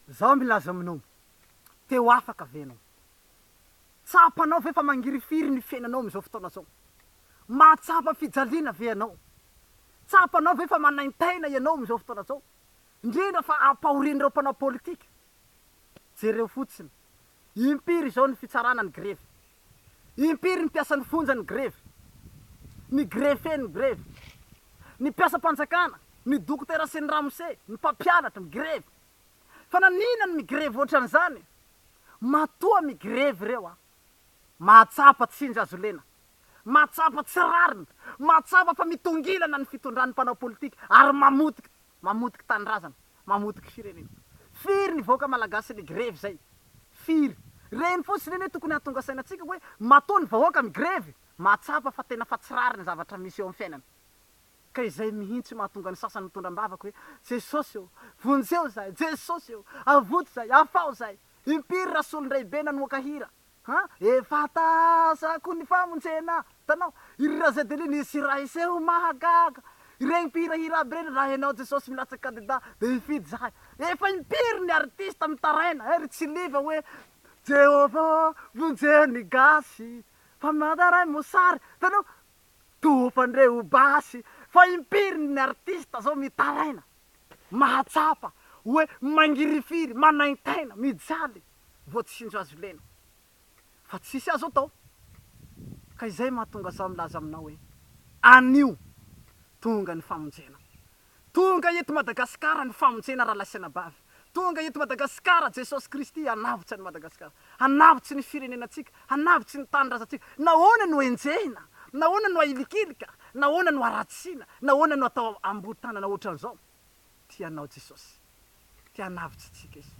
Zao milaza aminao, te ho afaka ve ianao? Tsapanao ve fa mangirifiry ny fiainanao amin'izao fotoana izao? Mahatsapa fijaliana ve ianao? Tsapanao ve fa manaintaina ianao amin'izao fotoana izao, indrindra fa ampahorin'ireo mpanao politika? Jereo fotsiny Impiry izao ny fitsarana ny grevy? Impiry ny mpiasan'ny fonja ny grevy? Ny greffier ny grevy? Ny mpiasam-panjakana, ny dokotera sy ny ramose, ny mpampianatra, migrevy. Fa naninona no migrevy ohatran'izany e? Matoa migrevy ireo an! Mahatsapa tsindry azo lena, mahatsapa tsy rariny, mahatsapa fa mitongilana ny fitondran'ny mpanao politika ary mamotika Mamotiky tanindrazana, mamotiky firenena. Firy nivoaka malagasy nigrevy zay? Firy? Reny fotsiny anie tokony hahatonga saina antsika hoe matoa ny vahoaka migrevy, mahatsapa fa tena fa tsy rariny ny zavatra misy eo amin'ny fiainana. Ka izay mihintsy mahatonga ny sasany mitondra am-bavaka hoe Jesosy ô, vonjeo zahay, Jesosy ô, avoty zahay, afaho zahay. Impiry rasolondraibe nanoaka hira, Ha! Efa tazako ny famonjena! Hitanao? Iry Razedeli nisy hira hiseho mahagaga! Ireny mpihira hira aby ireny, raha ianao Jesosy milatsaka kandida, dia hifidy izahay! Efa impiry ny artista mitaraina, eh, ry Tsiliva hoe, Jehovah, vonjeo ny gasy, fa mataray mosary! Hitanao? Toa fa ndre ho basy! Fa impiry ny artista izao mitaraina, mahatsapa, hoe mangirifiry, manaintaina, mijaly! vao tsy indro azo lena. Fa tsisy azo atao. Ka izay mahatonga zaho milaza aminao hoe, anio tonga ny famonjena. Tonga eto Madagasikara ny famonjena rahalahy sy anabavy. Tonga eto Madagasikara Jesosy Kristy hanavotsy an'i Madagasikara. Hanavotsy ny firenenantsika. Hanavotsy ny tanindrazantsika. Nahoana no enjehina? Nahoana no ahilikilika? Nahoana no aratsiana? Nahoana no atao amboho tanana ohatran'izao? Tianao Jesosy. Te hanavotsy antsika Izy.